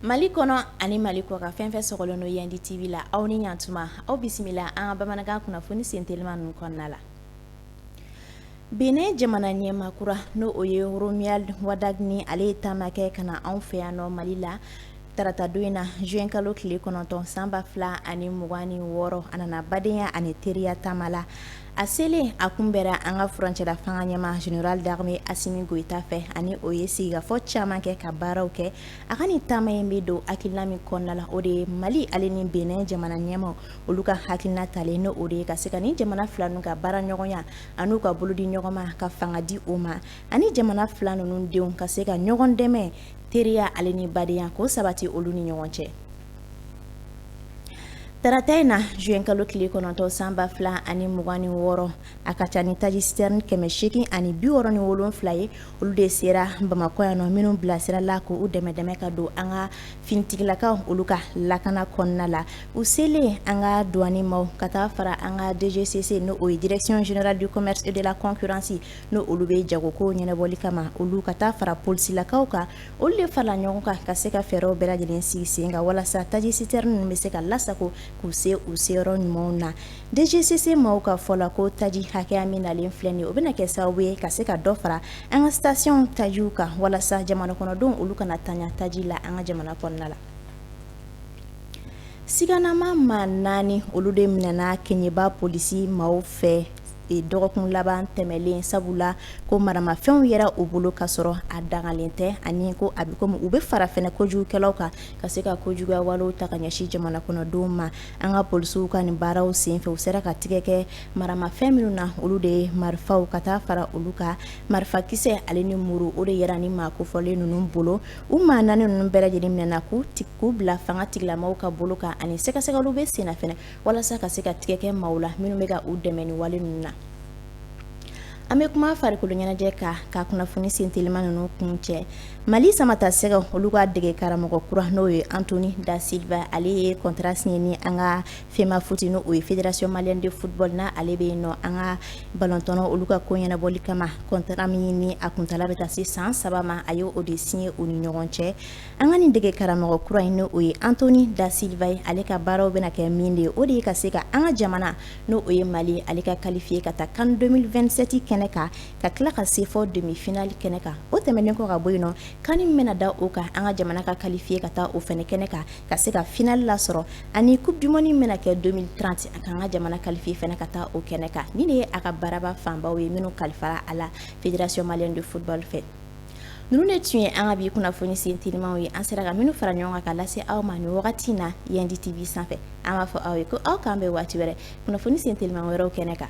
Mali kɔnɔ ani mali kɔkan fɛn fɛn sɔgɔlen don yandi TV la aw ni yan tuma aw bisimila an ka bamanankan kunnafoni sentelima ninnu kɔnɔna la Benin jamana ɲɛmaa kura n'o o ye Romuald Wadagni ale ye taama kɛ ka na anw fɛ yan nɔ mali la Tarata don in na juin kalo tile kɔnɔntɔn san ba fila ani mugan ni wɔɔrɔ a nana badenya ani teriya taama la a selen a kunbɛra an ka furancɛla fanga ɲɛmaa Général d'Armée Assimi Goïta fɛ ani o ye sigikafɔ caman kɛ ka baaraw kɛ a ka ni taama in bɛ don hakilina min kɔnɔna la o de ye mali ale ni Benin jamana ɲɛmaa olu ka hakilina talen n' o de ye ka se ka ni jamana fila ninnu ka baara ɲɔgɔnya ani u ka bolo di ɲɔgɔn ma ka fanga di o ma ani jamana fila ninnu denw ka se ka ɲɔgɔn dɛmɛ teriya ale ni badenya k'o sabati olu ni ɲɔgɔn cɛ tarata in na juin kalo tile kɔnɔntɔn san ba fila ani mugan ni wɔɔrɔ a ka ca ni taji sitɛrɛni kɛmɛ seegin ani bi wɔɔrɔ ni wolonfila ye olu de sera bamakɔ yan nɔ minnu bilasirala k'u dɛmɛ dɛmɛ ka don an ka finitigilakaw olu ka lakana kɔnɔna la u selen an ka duwani maaw ka taa fara an ka dgcc n'o o ye direction générale du commerce et de la concurrence n' olu bɛ jago ko ɲɛnabɔli kama olu ka taa fara polisilakaw kan olu de farala ɲɔgɔn kan ka se ka fɛɛrɛw bɛɛ lajɛlen sigi sen kan walasa taji sitɛrɛni ninnu bɛ se ka lasago k'u se u seyɔrɔ ɲumanw na dgcc maaw ka fɔ la ko taji hakɛya min nalen filɛ nin ye o bɛna kɛ sababu ye ka se ka dɔ fara an ka sitasiyɔn tajiw kan walasa jamana kɔnɔdenw olu kana tanya taji la an ka jamana kɔnɔna la siganamaa maa naani olu de minɛna Keɲeba polisi maaw fɛ dɔgɔkun laban tɛmɛlen sabu la ko maramafɛnw yera u bolo ka sɔrɔ a dagalen tɛ ani ko a bɛ komi u bɛ fara fɛnɛ kojugukɛlaw kan ka se ka kojuguya walew ta ka ɲɛsin jamana kɔnɔdenw ma an ka polisiw ka nin baaraw senfɛ u sera ka tigɛ kɛ maramafɛn minnu na olu de ye marifaw ka taa fara olu ka marifakisɛ ale ni muru o de yera ni maa kofɔlen ninnu bolo u maa naani ninnu bɛɛ lajɛlen minɛna k'u ta k'u bila fanga tigilamaaw ka bolo kan ani sɛgɛsɛgɛliw bɛ senna walasa ka se ka tigɛ kɛ maaw la minnu bɛ ka u dɛmɛ ni wale ninnu na an bɛ kuma farikolo ɲɛnajɛ kan ka kunnafoni sen teliman ninnu kuncɛ mali samatasɛgɛw olu ka dege karamɔgɔ kura n'o ye Anthony da Silva ale ye kɔntara siɲɛ ni an ka Femafoot n' o ye Fédération Malienne de Football n' ale bɛ yen nɔ an ka balɔntɔn olu ka ko ɲɛnabɔli kama kɔntara min ni a kuntaala bɛ taa se san saba ma a ye o de siɲɛ u ni ɲɔgɔn cɛ An ka nin dege karamɔgɔ kura in n'o ye Anthony da Silva ye ale ka baaraw bɛna kɛ min de ye o de ye ka se ka an ka jamana n' o ye mali ale ka qualifié ka taa CAN 2027 kɛnɛ kan ka tila ka se fɔ demi-finale kɛnɛ kan o tɛmɛnen kɔ ka bɔ yen nɔ CAN min bɛna da o kan an ka jamana ka qualifié ka taa o fana kɛnɛ kan ka se ka finale lasɔrɔ ani coupe du monde min bɛna kɛ 2030 a ka an ka jamana qualifié fana ka taa o kɛnɛ kan nin de ye a ka baaraba fanba ye minnu kalifara a la Fédération Malienne de Football fɛ ninnu de tun ye an ka bi kunnafoni sentelimaw ye an sera ka minnu fara ɲɔgɔn kan ka lase aw ma ni wagati in na yan di TV sanfɛ an b'a fɔ aw ye ko aw k'an bɛn waati wɛrɛ kunnafoni sentelima wɛrɛw kɛnɛ kan